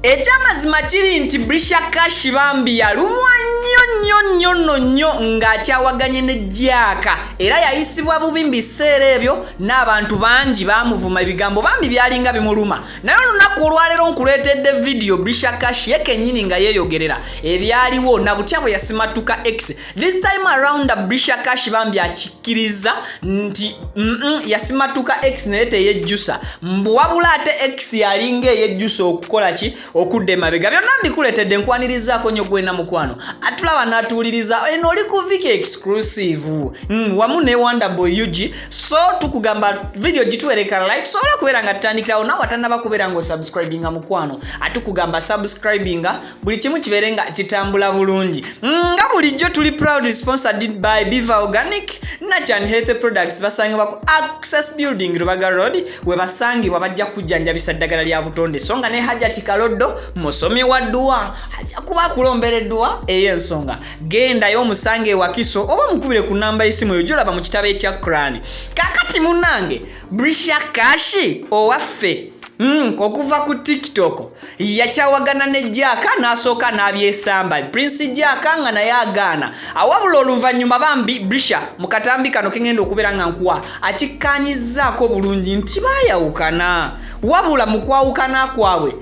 ekyamazima kiri nti brisha kashi bambi yalumwa nnyo nnyo nnyo no nnyo ng'akyawaganye ne jaaka era yayisibwa bubi mu biseera ebyo n'abantu bangi baamuvuma ebigambo bambi byalinga bimuluma naye olunaku olwaleero nkuleetedde vidiyo brishakash ye kennyini nga yeeyogerera ebyaliwo na butya bwe yasimattuka x this time around brishakash bambi akikkiriza nti mm, yasimattuka x naye teyejjusa mbu wabula ate x yalinga eyejjusa okukola ki okudda emabega byonna mbikuletedde nkwanirizaako nyo gwena mukwano atulaba natuwuliriza eno oli ku viki exclusive mm, wamu ne wonderboy ug so tukugamba vidiyo gituwereka like sobola okubeera nga tutandikirawo nawe atanaba kubeera nga osubscribinga mukwano atukugamba subscribinga buli kimu kibeere nga kitambula bulungi mm, nga bulijjo tuli proud responsible by biva organic nachan health products basangibwa ku access building rubaga road webasangibwa bajja kujjanjabisa ddagala lya butonde so nga ne hajati kaloddo musomi wa dduwa ajja kuba akulombera edduwa ey'ensonga gendayo omusange ewakiso oba mukubire ku namba y'esimu eyo gyolaba mu kitabo ekya kurani kakati munange brisha kashi owaffe mm, okuva ku tiktok yakyawagana ne jaaka n'asooka n'abyesamba prince jaaka nga naye agaana awabula oluvannyuma bambi brisha mu katambi kano kengenda okubeera nga nkuwa akikkanyizaako bulungi nti baayawukana wabula mu kwawukana kwabwe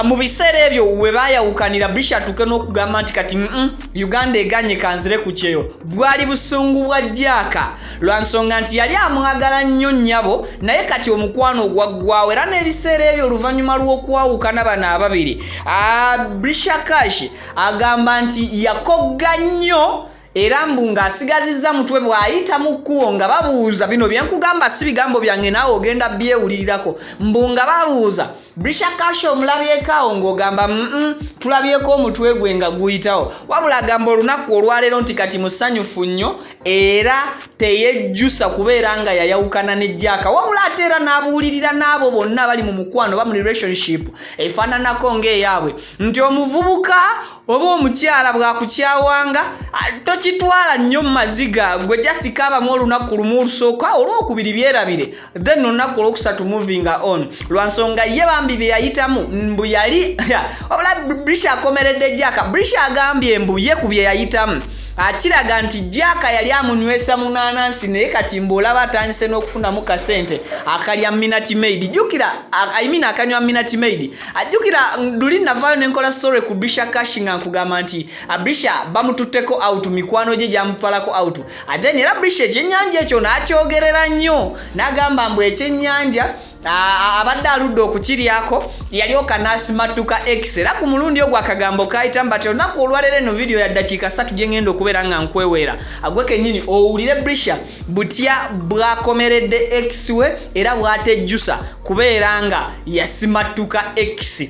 mu biseera ebyo we baayawukanira brisha atuuke n'okugamba nti kati mm uganda eganye kanzire ku kyeyo bwali busungu bwa jaaka lwa nsonga nti yali amwagala nnyo nnyabo naye kati omukwano ogwaggwawo era n'ebiseera ebyo oluvannyuma lw'okwawukana bano ababiri brisha kash agamba nti yakogga nnyo era mbu ng'asigazizza mutwe bw'ayita mu kkubo nga babuuza bino bye nkugamba si bigambo byange naawe ogenda byewulirirako mbu nga babuuza brisha kasha omulabyekaawo ng'ogamba mm tulabyeko omutwe gwe nga guyitawo wabula agamba olunaku olwaleero nti kati musanyufu nnyo era teyejjusa kubeera nga yayawukana ne jaaka wabula ate era n'abuulirira n'abo bonna abali mu mukwano oba mu relationship efaananako ng'eyaabwe nti omuvubuka oba omukyala bwakukyawanga tokitwala nnyo mu maziga gwe jasikabamu olunaku lumu olusooka olwokubiri byerabire then olunaku olwokusatu moving on lwansonga ye bambi byeyayitamu mbu yali wabula brisha akomeredde jaka brisha agambye mbu ye ku byeyayitamu akiraga nti jaka yali amunywesa munanansi naye kati mbu olaba atandise n'okufunamu kasente akalya minati maid jukira imean akanywa minati maid ajukira luli navayo nenkola story ku brisha cash nga nkugamba nti abrisha bamututteko out mikwano gye gyamutwalako out ate era brisha ekyennyanja ekyo n'akyogerera nnyo n'agamba mbu ekyennyanja abadde aludde okukiryako yalyoka n'asimattuka x era ku mulundi ogwo akagambo kayita mbati olunaku olwalero eno vidiyo ya ddakiika satu gye ngenda okubeera nga nkweweera agwe kennyini owulire brisha butya bwakomeredde x we era bwatejjusa kubeera nga yasimattuka x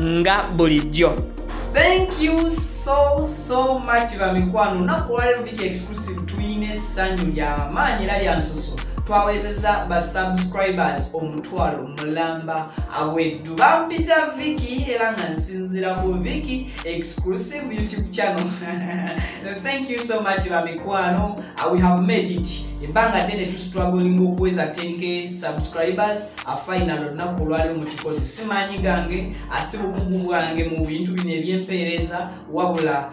nga bulijjo thank you so so much bamikwano naku olwaleero big exclusive tulina essanyu lyamaanyi era lyansusu twawezeza ba subscribers omutwalo mulamba aweddu bampita viki era nga nsinzira ku viki exclusive youtube channel thank you so much bamikwano uh, we have made it ebbanga ddene tusitwagolinga okuweza tenke subscribers afainal olunaku olwaliwo mu kikozi si maanyi gange asi bukugu bwange mu bintu bino ebyempeereza wabula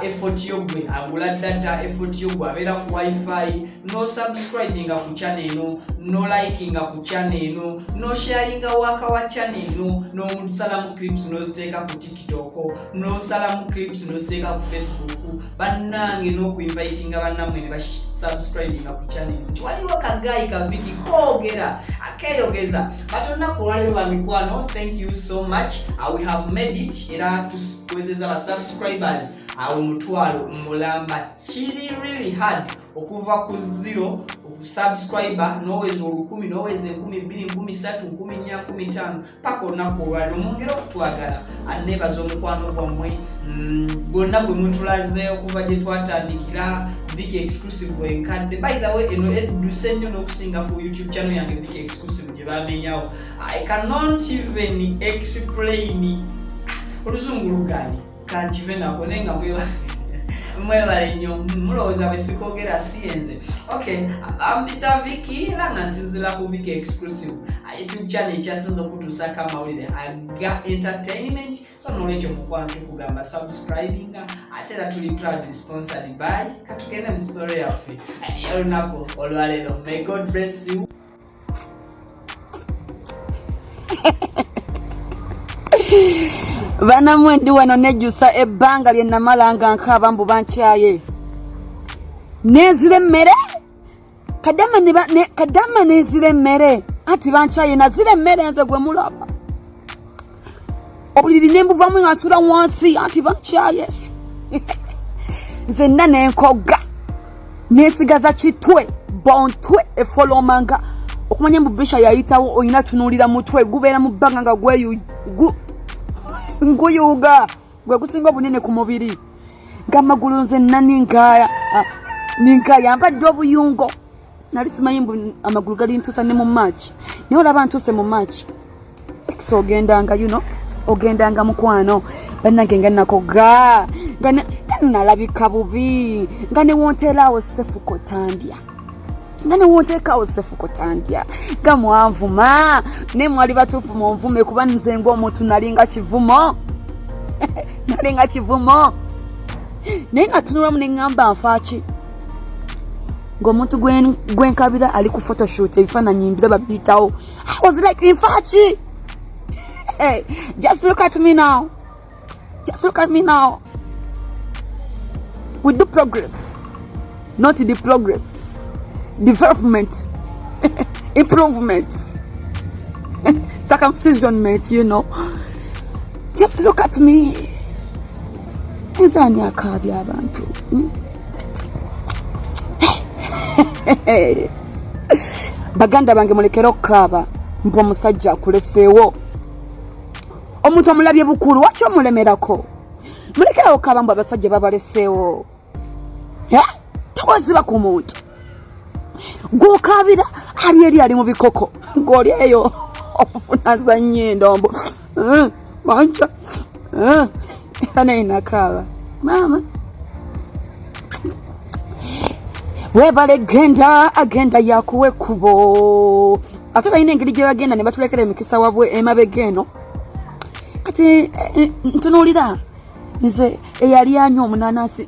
effort yo gwe agula data effort yo gwe abeera ku wifi no subscribinga ku chana eno no likinga ku chana eno no sharinga waka wa chana eno nomusalamu clips noziteeka ku tik kitoko nosalamu clips noziteeka ku facebook bannange n'okuinvitinga bannamwe ne basubscribinga ku channel nti waliwo kagayi kaviki koogera akeyogeza katonda kulwalero bamikwano thank you so much uh, we have made it era tuwezeza ba subscribers awo uh, mutwalo mulamba kiri really hard okuva ku zero subscriber noweza olukumi noweza enkumi bbiri nkumi satu nkumi nnya nkumi tano paka olunaku olwaliro mwongere okutwagala anebaza omukwano gwammwe mm, gwonna gwe mutulaze okuva gye twatandikira vic exclusive enkadde by the way eno edduse nnyo n'okusinga ku youtube channel yange vic exclusive gye bamenyawo i cannot even explain oluzungu lugaani kankive nako naye nga mwebale nnyo mulowooza bwe sikogera si yenze ok ampita um, viki era nga nsinzira ku viki exclusive uh, youtube channel ekyasinza okutuusako amawulire aga entertainment so nolwekyo mukwano tukugamba subscribinga uh, ate era tuli proud sponsored by katugende mu story yaffe uh, olunaku olwaleero may god bless you banamwe ndi wano nejjusa ebbanga lye namala nga nkaaba mbu bankyaye nezira emmere kadama nezira emmere anti bankyaye nazira emmere nze gwe mulaba obuliri ne mbuvamu nga nsula wansi anti bakyaye nzenna ne nkogga nesigaza kitwe bontwe efolomanga okumanya mbu bisha yayitawo olina tunuulira mutwe gubeera mu bbanga nga guyuuga gwe gusinga obunene ku mubiri nga amagulu nze nna ninkaya ah, ninkaya mbadde obuyungo nali simanyi mbu amagulu gali ntusa ne mu march naye olaba ntuse mu march ex ogendanga you know ogendanga mukwano banange nga nakoga nga nalabika bubi nga newonteeraawo sefuko tandya nga newonteekaawo sefuko tandya nga mwanvuma naye mwali batuufu munvume kuba nze ngaomuntu nalinga kivumo nalinga kivumo naye natunulamu neŋŋamba nfaaki ng'omuntu gwenkabira ali ku photoshoot ebifaananyi mbiraba biyitawo i was like infaaki hey, just look at me now just look at me now we do progress not the progress development improvement circumcision mate you know just look at me nze ani akaabya abantu hmm? baganda bange mulekere okukaaba mbu omusajja akuleseewo omuntu omulabye bukulu waki omulemerako mulekere okukaaba mbu abasajja babaleseewo tokoziba ku muntu gwokabira ali eri ali mu bikoko ng'oli eyo ofunaza nnyo endombo eh, manca eh, era naye nakaaba maama webale genda agenda yakuwa ekkubo ate balina engeri gye bagenda ne batulekera emikisa wabwe emabega eno kati eh, ntunuulira nze eyali anywa omunanasi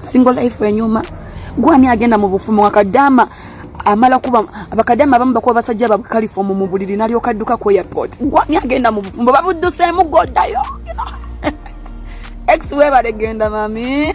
single life enyuma gwani agenda mu bufumu wakadama amala kuba abakadama abamu bakuba basajja babwe kalifomu mu buliri nalyoka adduka ku airport gwani agenda mu bufumbo babudduseemu gwodayo ex webale genda mami